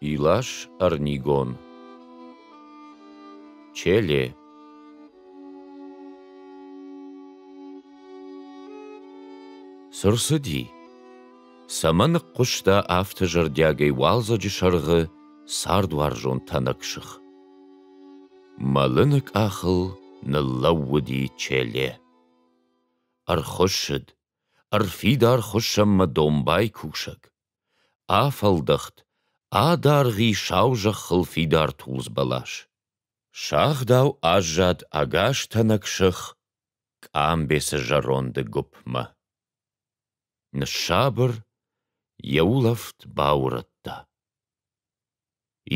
Илаш Ӕрнигон Челе Цы рцыди? Цӕмӕн ныхъхъуыста афтӕ зӕрдиагӕй уалдзӕджы сӕргъы цардуарзон тӕнӕг сых? Мӕлыны къахыл ныллӕууыди Челе. Ӕрхуыссыд Ӕрфидар хуыссӕнмӕ домбай кусӕг. Афӕлдӕхт, адаргъ и сау зӕххыл фидар тулдз бӕлас. Сагъдау аззад ӕгас тӕнӕг сых къамбецы зӕронды гуыпмӕ. Ныссабыр, йӕ улӕфт баурӕдта.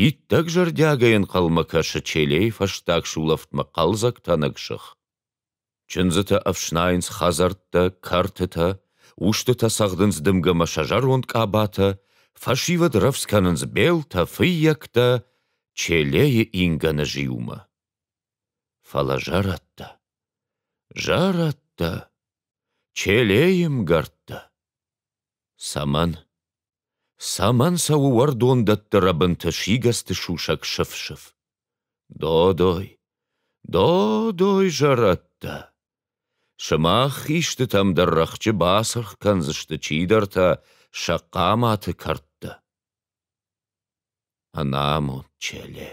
Иттӕг зӕрдиагӕй ӕнхъӕлмӕ кӕсы Челейы фӕстаг сулӕфтмӕ хъӕлдзӕг тӕнӕг сых. Чындзытӕ ӕфснайынц хӕдзӕрттӕ, кӕртытӕ, устытӕ цӕгъдынц дымгӕ ӕмӕ сӕ зӕронд къабатӕ, фӕсивӕд рӕвдз кӕнынц белтӕ, фыййӕгтӕ Челейы ингӕны зиумӕ. Фӕлӕ зӕрӕдтӕ, зӕрӕдтӕ, Челейы мгӕрттӕ. Цӕмӕн? Цӕмӕн цӕуы уӕрдондӕтты рӕбынты сигӕцты сусӕг сыф-сыф? Додой, додой зӕрӕдтӕ! Сымах истытӕм дӕр рӕхджы бацыргъ кӕндзысты чидӕртӕ сӕ хъаматы кӕрдтӕ. Ӕнамонд Челе.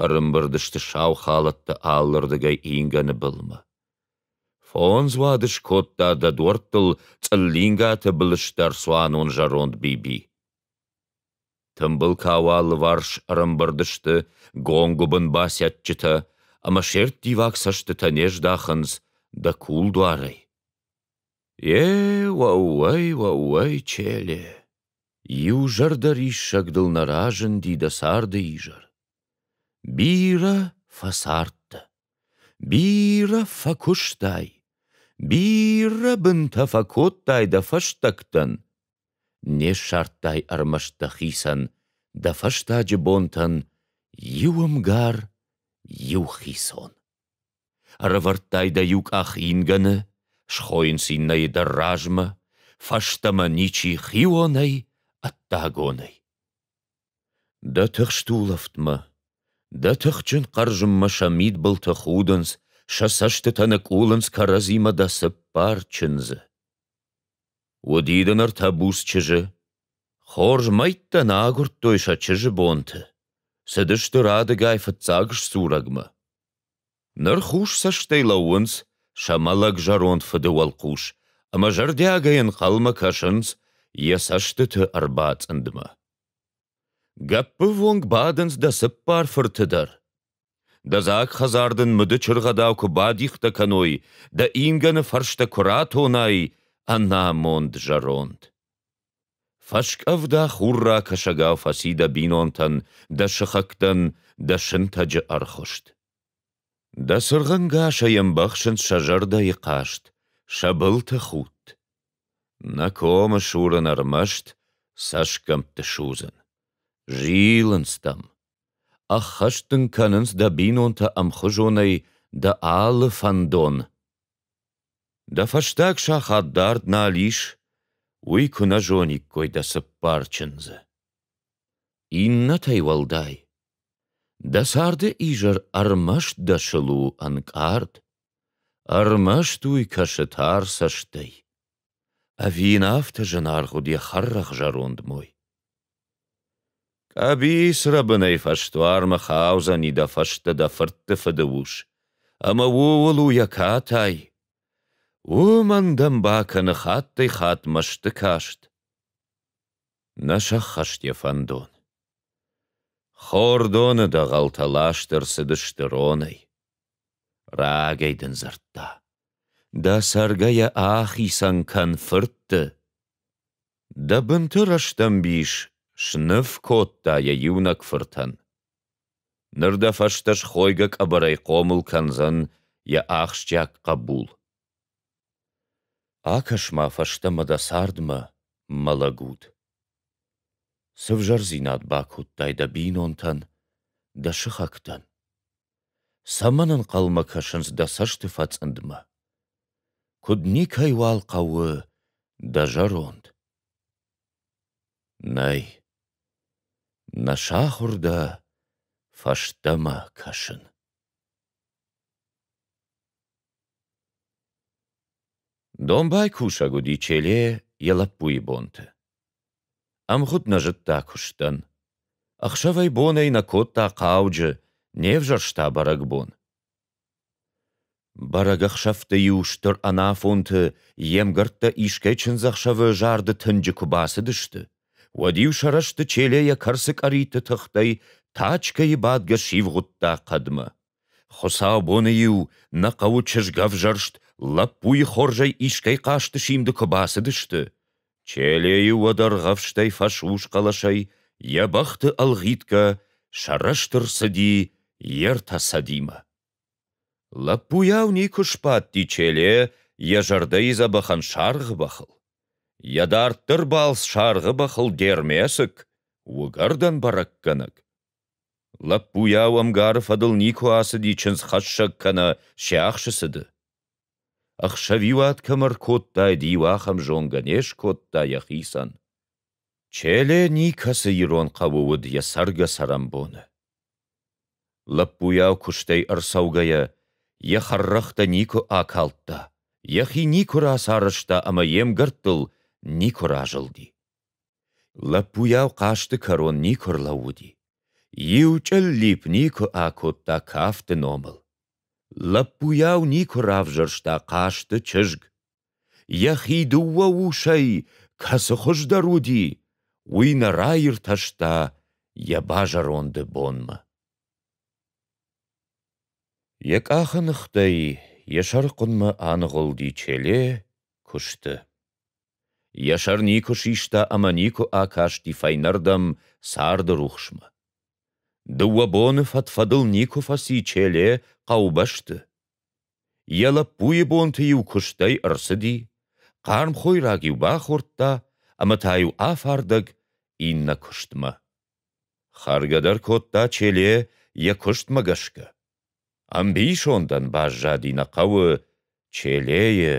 Ӕрымбырд сты сау халӕттӕ алырдыгӕй ингӕны былмӕ. Фондз уады скодта дӕ дуӕрттыл цъыллингаты былысдӕр цуанон зӕронд Биби. Тымбыл кауы алыварс ӕрӕмбырд сты гонгуыбын басӕтджытӕ ӕмӕ се рттиваг цӕстытӕ не здахынц дӕ кулдуарӕй. Е, уӕууӕй, уӕууӕй, Челе! Иу зӕрдӕ риссагдыл нӕ разынди дӕ царды изӕр. Бирӕ фӕцардтӕ, бирӕ фӕкуыстай, бирӕ бынтӕ фӕкодтай дӕ фӕстӕгтӕн, Не ссардтай ӕрмӕст дӕхицӕн, Дӕ фӕстаджы бонтӕн Иу ӕмгар, иу хицон. Ӕрӕвӕрдтай дӕ иу къах ингӕны, Схойынц иннӕйы дӕр размӕ, Фӕстӕмӕ ничи хионӕй, ӕддагонӕй. Дӕ тыхст улӕфтмӕ, Дӕ тыхджын хъӕрзынмӕ сӕ мидбылты худынц, Сӕ цӕстытӕ ныкъулынц кӕрӕдзимӕ дӕ цыппар чындзы. Уыди дын ӕртӕ буц чызджы. Хорз мӕйттӕ нӕ агуырдтой сӕ чызджы бонты. Цыдысты радыгай фыццаг сдзурӕгмӕ. Ныр хус цӕстӕй лӕууынц сӕ мӕлӕг зӕронд фыды уӕлхъус ӕмӕ зӕрдиагӕй ӕнхъӕлмӕ кӕсынц йӕ цӕстыты ӕрбацъындмӕ. Гӕппывонг бадынц дӕ цыппар фырты дӕр. Дӕ дзаг хӕдзар дын мыды чыргъӕдау куы бадихтӕ кӕной, дӕ ингӕны фӕрстӕ куы ратонай, ӕнамонд зӕронд. Фӕскъӕвда хурра кӕсӕгау фӕци дӕ бинонтӕн, дӕ сыхӕгтӕн, дӕ сынтӕджы ӕрхуыст. Дӕ цыргъӕнгасӕй ӕмбӕхсынц сӕ зӕрдӕйы хъаст, сӕ былты худт. Нӕ комы сурын ӕрмӕст цӕсгӕмтты судзын. Зилынц дӕм, Ӕххӕст дын кӕнынц дӕ бинонтӕ ӕмхуызонӕй дӕ алы фӕндон. Дӕ фӕстаг сахат дард нал ис, уый куы нӕ зониккой дӕ цыппар чындзы. Иннӕтӕй уӕлдай, дӕ царды изӕр ӕрмӕст дӕсыл у ӕнкъард, ӕрмӕст уый кӕсы тар цӕстӕй. Ӕви йын афтӕ зынаргъ уыд йӕ хӕррӕгъ зӕронд мой? Къӕбицрӕбынӕй фӕсдуармӕ хаудзӕни дӕ фӕстӕ дӕ фыртты фыды ус, ӕмӕ ууыл у йӕ катай. Уымӕн дӕм бакӕны хаттӕй-хатт мӕсты каст. Нӕ сӕххӕст йӕ фӕндон. Хордоны дӕгъӕлтӕ ласт ӕрцыдысты ронӕй. Рагӕй дын дзырдта: дӕ цӕргӕйӕ ахицӕн кӕн фыртты. Дӕ бынты рӕстӕмбис сныв кодта йӕ иунӕг фыртӕн. Ныр дӕ фӕстӕ схойгӕ къӕбӕрӕй хъомыл кӕндзӕн йӕ ахсджиаг хъӕбул. Акӕс-ма фӕстӕмӕ дӕ цардмӕ, мӕ лӕгут. Цы взӕрдзинад бакодтай дӕ бинонтӕн, дӕ сыхӕгтӕн? Цӕмӕн ӕнхъӕлмӕ кӕсынц дӕ цӕсты фӕцъындмӕ? Куыд никӕйуал хъӕуы дӕ зӕронд? Нӕй. Нӕ сахуыр дӕ фӕстӕмӕ кӕсын. Домбай кусӕг уыди Челе йӕ лӕппуйы бонты. Ӕмгъуыд нӕ зыдта куыстӕн. Ӕхсӕвӕй-бонӕй нӕ кодта хъауджы, не взӕрста бӕрӕгбон. Бӕрӕгӕхсӕвты-иу стыр ӕнафонты йе мгӕрттӕ искӕй чындзӕхсӕвы зарды тынджы куы бацыдысты, уӕд-иу сӕ рӕзты челе йӕ кӕрцы къӕритты тыхтӕй тачкӕйы бадгӕ сивгъуыдта хъӕдмӕ. Хуыцаубоны-иу нӕ хъӕуы чызгӕвзӕрст лӕппуйы хорзӕй искӕй хъазты симды куы бацыдысты, Челейы уӕд ӕргъӕвстӕй фӕсус хъӕлӕсӕй йӕ бӕхты ӕлгъитгӕ сӕрӕсты рцыди йе ртӕ цӕдимӕ. Лӕппуйау никуы сбадти Челе йӕ зӕрдӕйы дзӕбӕхӕн саргъы бӕхыл. Йӕ дарддӕр балц саргъы бӕхыл Дермесык, уыгӕрдӕн бӕрӕггӕнӕг, Лӕппуйау ӕмгары фӕдыл никуы ацыди чындзхӕссӕг кӕнӕ се ӕхсы цыды. Ӕхсӕвиуат кӕм ӕркодтаид, иу ахӕм зонгӕ не скодта йӕхицӕн. Челе никӕцы ирон хъӕуы уыд йӕ цӕргӕ-цӕрӕнбоны. Лӕппуйау куыстӕй ӕрцӕугӕйӕ, йӕ хӕррӕгътӕ никуы акалдта, йӕхи никуы рацарӕзта ӕмӕ йе мгӕрттыл никуы разылди. Лӕппуйау хъазты кӕрон никуы ӕрлӕууыди. Иу чъыллипп никуы акодта кафты номыл. Лӕппуйау никуы равзӕрста хъазты чызг. Йӕхи дыууӕ усӕй кӕцы хуыздӕр уыди, уый нӕ раиртӕста йӕ базӕронды бонмӕ. Йӕ къахы ныхтӕй йӕ сӕрыхъуынмӕ аныгъуылди Челе куысты. Йӕ сӕр никуы систа ӕмӕ никуы акасти фӕйнӕрдӕм царды рухсмӕ. Дыууӕ боны фӕд-фӕдыл никуы фӕци Челе хъӕубӕсты. Йӕ лӕппуйы бонты-иу куыстӕй ӕрцыди, хъарм хойраг-иу бахордта ӕмӕ та-иу афардӕг иннӕ куыстмӕ. Хӕргӕ дӕр кодта Челе йӕ куыстмӕ гӕсгӕ. Ӕмбисондӕн баззади нӕ хъӕуы Челейы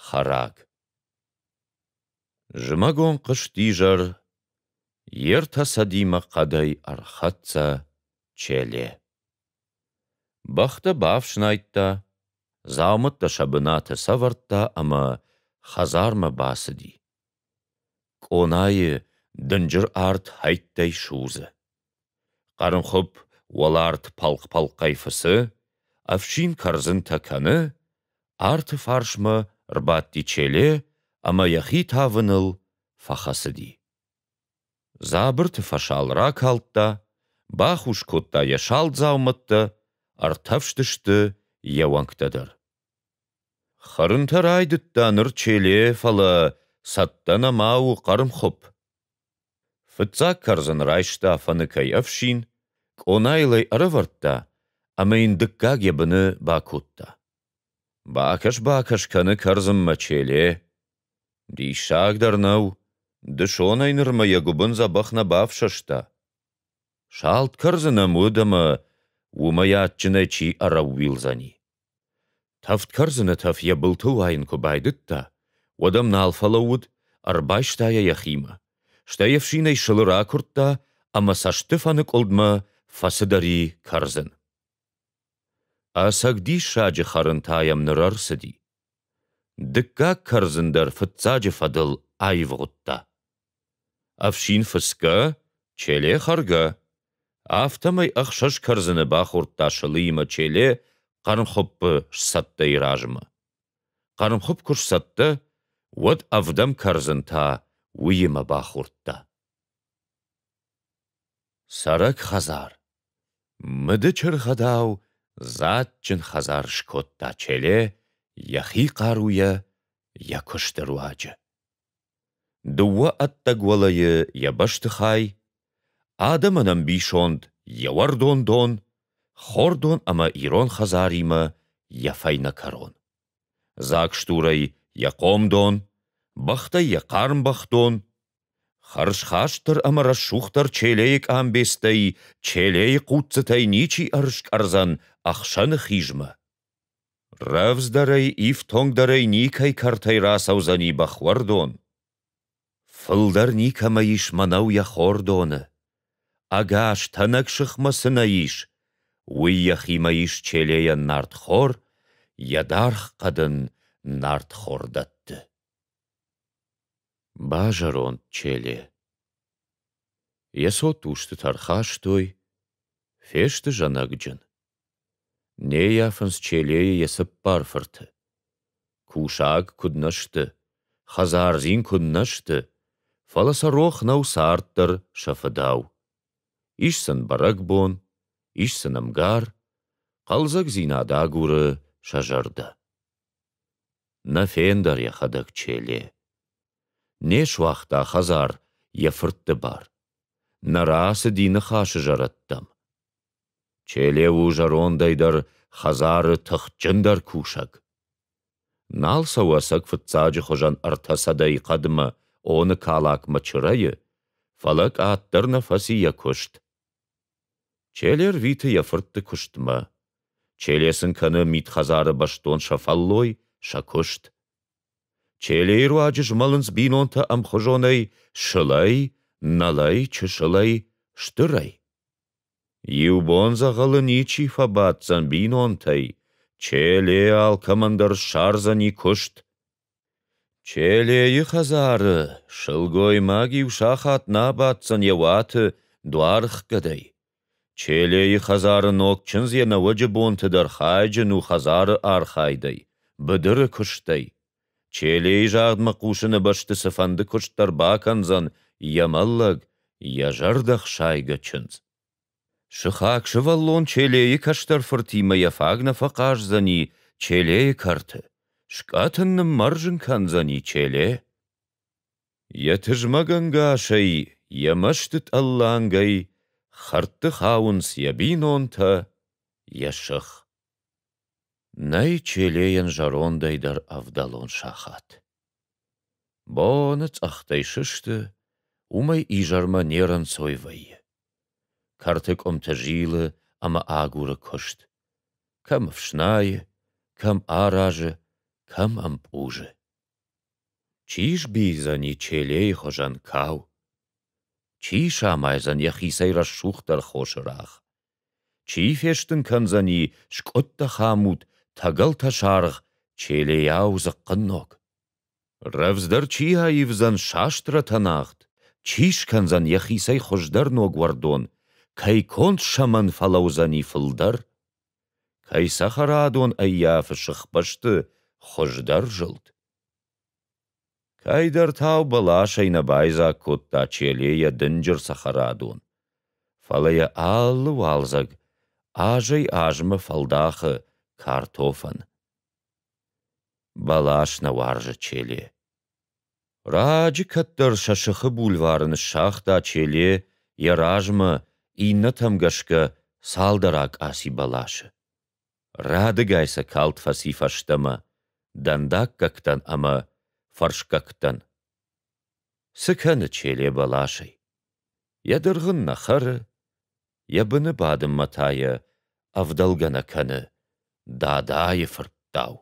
хӕраг. Зымӕгон хъызтизӕр йе ртӕ сӕдимӕ хъӕдӕй ӕрхӕццӕ Челе. Бӕхтӕ бафснайдта, дзаумӕттӕ сӕ бынаты сӕвӕрдта ӕмӕ хӕдзармӕ бацыди. Къонайы дынджыр арт хӕйттӕй судзы. Хъӕрнхуыпп уӕларт пӕлхъ-пӕлхъӕй фыцы, ӕфсин кӕрдзынтӕ кӕны, арты фарсмӕ рбадти Челе ӕмӕ йӕхи тавыныл фӕхӕцыди. Дзабырты фӕсал ракалдта, бахус кодта йӕ салдзаумӕттӕ, ӕртӕфстысты йӕ уӕнгтӕ дӕр. Хӕрынтӕ райдыдта ныр Челе, фӕлӕ цӕттӕ нӕма у хъӕрмхуыпп. Фыццаг кӕрдзын райста фӕныкӕй ӕфсин, къонайыл ӕй ӕрӕвӕрдта ӕмӕ йын дыккаг йӕ быны бакодта. Бакӕс-бакӕс кӕны кӕрдзынмӕ Челе. Диссаг дӕр нӕу, дысонӕй нырмӕ йӕ гуыбын дзӕбӕх нӕ бафсӕста. Салд кӕрдзын ӕм уыд ӕмӕ уымӕй адджынӕй чи ӕрӕууилдзӕни. Тӕвд кӕрдзыны тӕф йӕ былтыл уайын куы байдыдта, уӕд ӕм нал фӕлӕууыд, ӕрбайста йӕ йӕхимӕ, стӕй ӕфсинӕй сылы ракуырдта ӕмӕ цӕстыфӕныкъуылдмӕ фӕцыдӕр и кӕрдзын. Ӕцӕг диссаджы хӕрын та йӕм ныр ӕрцыди. Дыккаг кӕрдзын дӕр фыццаджы фӕдыл аивгъуыдта. Ӕфсин фыцгӕ, Челе хӕргӕ, афтӕмӕй ӕхсӕз кӕрдзыны бахордта сылыимӕ Челе хъӕрмхуыппы сцӕттӕйы размӕ. Хъӕрмхуыпп куы сцӕттӕ, уӕд ӕвдӕм кӕрдзын та уыимӕ бахордта. Цӕрӕг хӕдзар. Мыдычыргъӕдау дзаджджын хӕдзар скодта Челе йӕхи хъаруйӕ йӕ куысты руаджы. Дыууӕ ӕддӕг уӕлӕйы йӕ бӕстыхай, адӕмӕн ӕмбисонд йӕ уӕрдон дон, хордон ӕмӕ ирон хӕдзаримӕ йӕ фӕйнӕ кӕрон. Дзаг стурӕй йӕ хъомдон, бӕхтӕй йӕ хъарм бӕхдон, Хӕрзхастдӕр ӕмӕ рӕсугъддӕр Челейы къамбецтӕй Челейы хъуццытӕй ничи ӕрыскъӕрдзӕн ӕхсӕны хизмӕ. Рӕвдздӕрӕй, ифтонгдӕрӕй никӕй кӕртӕй рацӕудзӕни бӕхуӕрдон. Фылдӕр никӕмӕ ис мӕнӕу йӕ хордоны. Ӕгас тӕнӕг сыхмӕ цы нӕ ис, уый йӕхимӕ ис Челейӕн нартхор, йӕ даргъ хъӕдын нартхор дӕтты. Базӕронд Челе. Йӕ цот устытӕ ӕрхастой, фесты зӕнӕгджын. Не ййафынц Челейы йӕ цыппар фырты. Кусаг куыд нӕ сты, хӕдзардзин куыд нӕ сты, фӕлӕ сӕ рох нӕу царддӕр сӕ фыдау. Ис сын бӕрӕгбон, ис сын ӕмгар, хъӕлдзӕгдзинад агуры сӕ зӕрдӕ. Нӕ фендӕр йӕхӕдӕг Челе. Не суагъта хӕдзар йӕ фыртты бар. Нӕ рацыди ныхасы зӕрӕдтӕм. Челе у зӕрондӕй дӕр хӕдзары тыхджындӕр кусӕг. Нал цӕуы ӕцӕг фыццаджы хуызӕн ӕртӕ сӕдӕйы хъӕдмӕ Оны калакмӕ чырӕйы, фӕлӕ къаддӕр нӕ фӕци йӕ куыст. Челе рвиты йӕ фыртты куыстмӕ. Челе сын кӕны мидхӕдзары бӕстон сӕ фӕллой, сӕ куыст. Челейы руаджы змӕлынц бинонтӕ ӕмхуызонӕй сылӕй, нӕлӕй, чысылӕй, стырӕй. Иу бон дзӕгъӕлы ничи фӕбаддзӕн бинонтӕй, Челе алкӕмӕн дӕр ссардзӕни куыст. Челейы хӕдзары сылгоймаг-иу сахат нӕ абаддзӕн йӕ уаты дуаргъгӕдӕй. Челейы хӕдзары ног чындз йӕ нӕуӕджы бонты дӕр хайджын у хӕдзары архайдӕй, быдыры куыстӕй. Челейы загъдмӕ хъусыны бӕсты цыфӕнды куыст дӕр бакӕндзӕн йӕ мӕллӕг, йӕ зӕрдӕхсайгӕ чындз. Сыхаг сывӕллон Челейы кӕстӕр фыртимӕ йӕ фаг нӕ фӕхъаздзӕни Челейы кӕрты, скъӕт ын ныммӕрзын кӕндзӕни Челе. Йӕ тызмӕгӕнгасӕй, йӕ мӕсты тъӕллангӕй хӕрдты хауынц йӕ бинонтӕ, йӕ сых. Нӕй Челейӕн зӕрондӕй дӕр ӕвдӕлон сахат. Боны цъӕхтӕй сысты, уымӕй изӕрмӕ не рӕнцой вӕййы. Кӕрты къуымты зилы ӕмӕ агуры куыст. Кӕм ӕфснайы, кӕм аразы, кӕм ӕмпъузы. Чи сбийдзӕни Челейы хуызӕн кау? Чи самайдзӕн йӕхицӕй рӕсугъддӕр хосы рагъ? Чи фестын кӕндзӕни скъуыдтӕ хӕмут, тӕгӕлтӕ саргъ, челейау дзыхъхъынног? Рӕвдздӕр чи аивдзӕн састрӕтӕ нагъд, чи скӕндзӕн йӕхицӕй хуыздӕр ног уӕрдон, кӕй конд сӕмӕн фӕлӕудзӕни фылдӕр? Кӕй цӕхӕрадон ӕййафы сыхбӕсты хуыздӕр зылд? Кӕйдӕртау бӕласӕй нӕ байдзаг кодта Челе йӕ дынджыр цӕхӕрадон, фӕлӕ йӕ алы уалдзӕг азӕй-азмӕ фӕлдахы картофӕн. Бӕлас нӕ уарзы Челе. Раджы кӕддӕр сӕ сыхы бульвары ныссагъта Челе йӕ размӕ, иннӕтӕм гӕсгӕ цалдӕр акъаци бӕласы. Радыгай сӕ калд фӕци фӕстӕмӕ дӕндаггӕгтӕн ӕмӕ фӕрсгӕгтӕн. Цы кӕны Челе бӕласӕй? Йӕ дыргъын нӕ хӕры, йӕ быны бадынмӕ та йӕ ӕвдӕлгӕ нӕ кӕны Дадайы фырттау.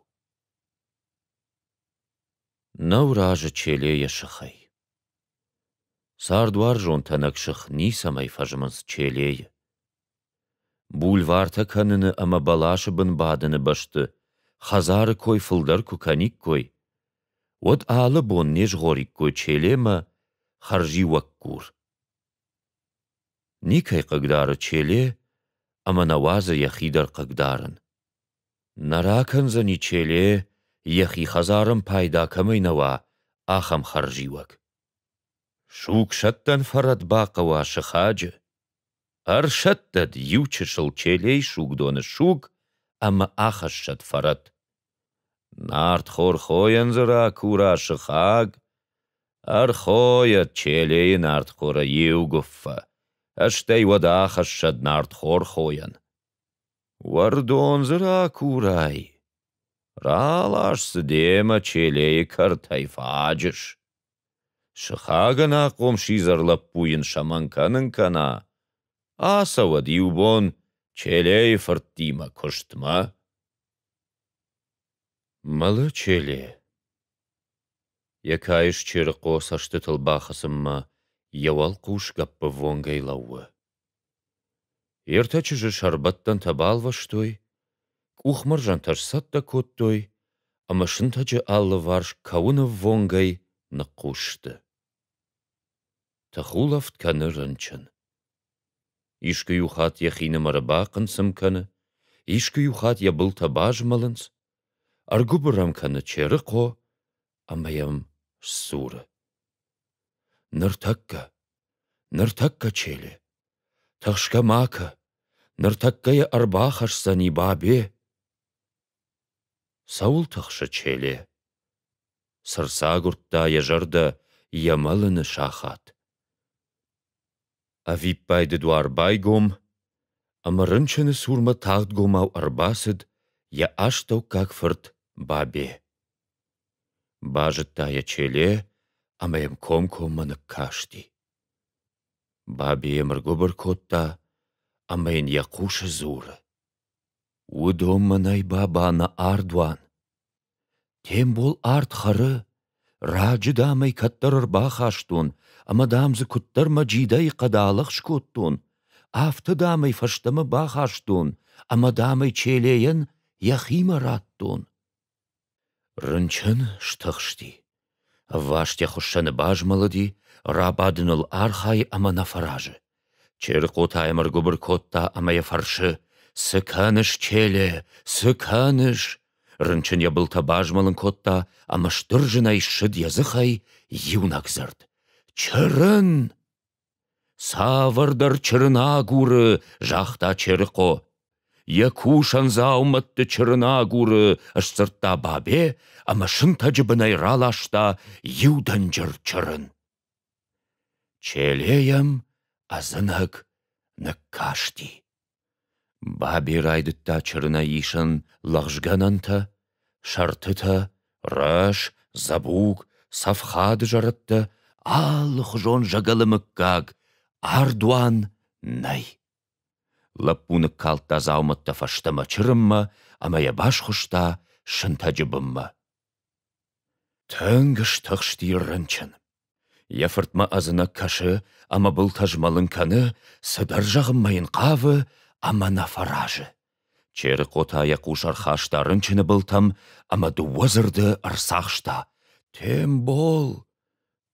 Нӕу разы Челе йӕ сыхӕй. Цардуарзон тӕнӕг сых ницӕмӕй фӕзмынц Челейы. Бульвартӕ кӕныны ӕмӕ бӕласы бын бадыны бӕсты хӕдзары кой фылдӕр куы кӕниккой, уӕд алы бон не згъориккой Челемӕ хӕрзиуӕггур. Никӕй хъыгдары Челе ӕмӕ нӕ уадзы йӕхи дӕр хъыгдарын. Нӕ ракӕндзӕни Челе йӕхи хӕдзарӕн пайда кӕмӕй нӕ уа, ахӕм хӕрзиуӕг. Сугсӕттӕн фӕрӕт бахъӕуа сыхаджы. Ӕрсӕттӕд иу чысыл Челейы сугдоны суг ӕмӕ ахӕссӕд фӕрӕт. Нартхорхойӕн дзы ракура сыхаг, ӕрхойӕд Челейы нартхоры иу гуыффӕ, стӕй уӕд ахӕссӕд нартхорхойӕн. Уӕрдон дзы ракурай, ралас дзы демӕ Челейы кӕртӕй фаджыс. Сыхагӕн ахъом сидзӕр лӕппу йын сӕмӕн кӕнын кӕна, ацӕуӕд иу бон Челейы фырттимӕ куыстмӕ. Мӕлы Челе. Йӕ каис Черыхъо цӕстытыл бахӕцынмӕ йӕ уӕлхъус гӕппы вонгӕй лӕууы. Ертӕ чызджы сӕрбӕттӕнтӕ балвӕстой, къухмӕрзӕнтӕ сцӕттӕ кодтой ӕмӕ сынтӕджы алыварс кӕуынӕввонгӕй ныхъхъус сты. Тыхулӕфт кӕны рынчын. Искуы иу хатт йӕхинымӕры бахъынцым кӕны, искуы иу хатт йӕ былтӕ базмӕлынц, ӕргуыбыр ӕм кӕны Черыхъо ӕмӕ йӕм сдзуры: «Ныртӕккӕ, ныртӕккӕ, Челе, тӕхсгӕ ма кӕ, ныртӕккӕ йӕ ӕрбахӕсдзӕни Бабе». «Цӕуыл тӕхсы, Челе?» Цы рцагуырдта йӕ зӕрдӕ йӕ мӕлыны сахат. Ӕвиппайды дуар байгом, ӕмӕ рынчыны цурмӕ тагъдгомау ӕрбацыд йӕ астӕуккаг фырт Бабе. Базыдта йӕ Челе ӕмӕ йӕм комкоммӕ ныккасти. Бабе йӕм ӕргуыбыр кодта ӕмӕ йын йӕ хъусы дзуры: — Уыдон мӕнӕй баба нӕ ардуан. Тембол ард хӕры, раджы, дам ӕй кӕддӕр ӕрбахастон ӕмӕ, дам дзы куыддӕр мӕ джидӕй хъӕдалӕхс кодтон, афтӕ, дам ӕй фӕстӕмӕ бахастон ӕмӕ, дам ӕй Челейӕн йӕхимӕ радтон. Рынчын стыхсти. Ӕввастӕй хуыссӕны базмӕлыди, рабадыныл архайы ӕмӕ нӕ фӕразы. Чырыхъоты ӕмыргуыбыр кодта ӕмӕ йӕ фӕрсы: «Цы кӕныс, Челе, цы кӕныс?» Рынчын йӕ былтӕ базмӕлын кодта ӕмӕ стыр зынӕй ссыд йӕ дзыхӕй иунӕг дзырд: «Чырын!» Цавӕрдӕр чырын агуры, загъта Черыхъо. Йӕ кусӕн дзаумӕтты чырын агуры, сдзырдта Бабе ӕмӕ сынтӕджы бынӕй раласта иу дӕнджыр чырын. Челейӕм ӕдзынӕг ныккасти. Бабе райдыдта чырынӕй исын лӕгъзгӕнӕнтӕ, сӕртытӕ, рӕс, дзӕбуг, цӕфхад зӕрӕдтӕ, алыхуызон зӕгӕлы мыггаг, ардуан нӕй. Лӕппу ныккалдта дзаумӕттӕ фӕстӕмӕ чырынмӕ ӕмӕ йӕ басхуыста сынтӕджы бынмӕ. Тынг стыхсти рынчын. Йӕ фыртмӕ ӕдзынӕг кӕсы ӕмӕ былтӕ змӕлын кӕны, цыдӕр зӕгъынмӕ йын хъавы ӕмӕ нӕ фӕразы. Черыхъотӕ йӕ хъус ӕрхаста рынчыны былтӕм ӕмӕ дыууӕ дзырды ӕрцахста: «Тембол!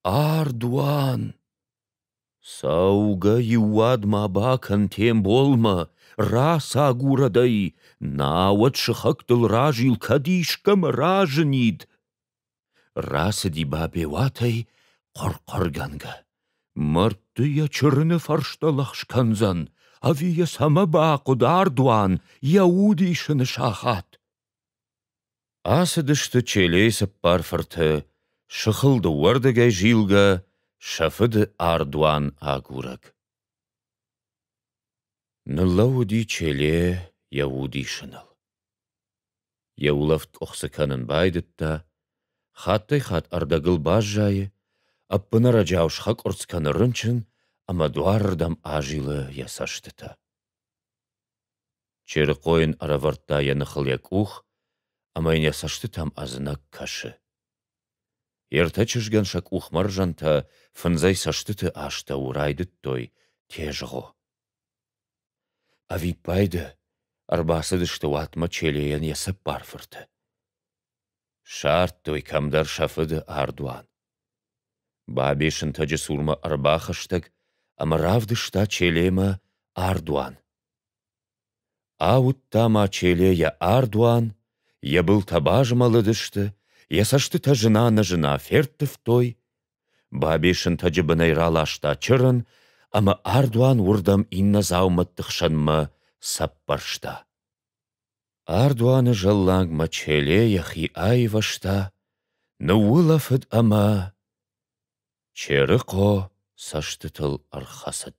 Ардуан!» Цӕугӕ-иу уӕдмӕ бакӕн Темболмӕ, рацагурӕд ӕй, науӕд сыхӕгтыл разил кӕд искӕмӕ разынид. Рацыди Бабеуатӕй хъӕр-хъӕргӕнгӕ. Мӕрдты йӕ чырыны фӕрстӕ лӕхскӕндзӕн, ӕви йӕ цӕмӕ бахъуыд ардуан йӕ удисы сахат? Ацыдысты Челейы цыппар фырты, сыхыл дыууӕрдыгӕй зилгӕ, сӕ фыды ардуан агурӕг. Ныллӕууыди Челе йӕ удисыныл. Йӕ улӕфт къуыхцы кӕнын байдыдта, хаттӕй-хатт ӕрдӕгыл баззайы, ӕппынӕрӕджау схӕкъуырцц кӕны рынчын ӕмӕ дуарырдӕм азилы йӕ цӕстытӕ. Черыхъо йын ӕрӕвӕрдта йӕ ныхыл йӕ къух ӕмӕ йын йӕ цӕстытӕм ӕдзынӕг кӕсы. Йе ртӕ чызгӕн сӕ къухмӕрзӕнтӕ фындзӕй цӕстыты астӕу райдыдтой тезгъо. Ӕвиппайды ӕрбацыдысты уатмӕ Челейӕн йӕ цӕппар фырты. Ссардтой кӕмдӕр сӕ фыды ардуан. Бабе сынтӕджы цурмӕ ӕрбахӕстӕг ӕмӕ равдыста Челемӕ ардуан. Ауыдта ма Челе йӕ ардуан, йӕ былтӕ базмӕлыдысты, йӕ цӕстытӕ зына-незына ферттывтой. Бабе сынтӕджы бынӕй раласта чырын ӕмӕ ардуан уырдӕм иннӕ дзаумӕтты хсӕнмӕ сӕппӕрста. Ардуаны зӕлланг Мачеле йӕхи аивӕзта, ныуулӕфыд ӕмӕ Черыхъо цӕстытыл ӕрхӕцыд.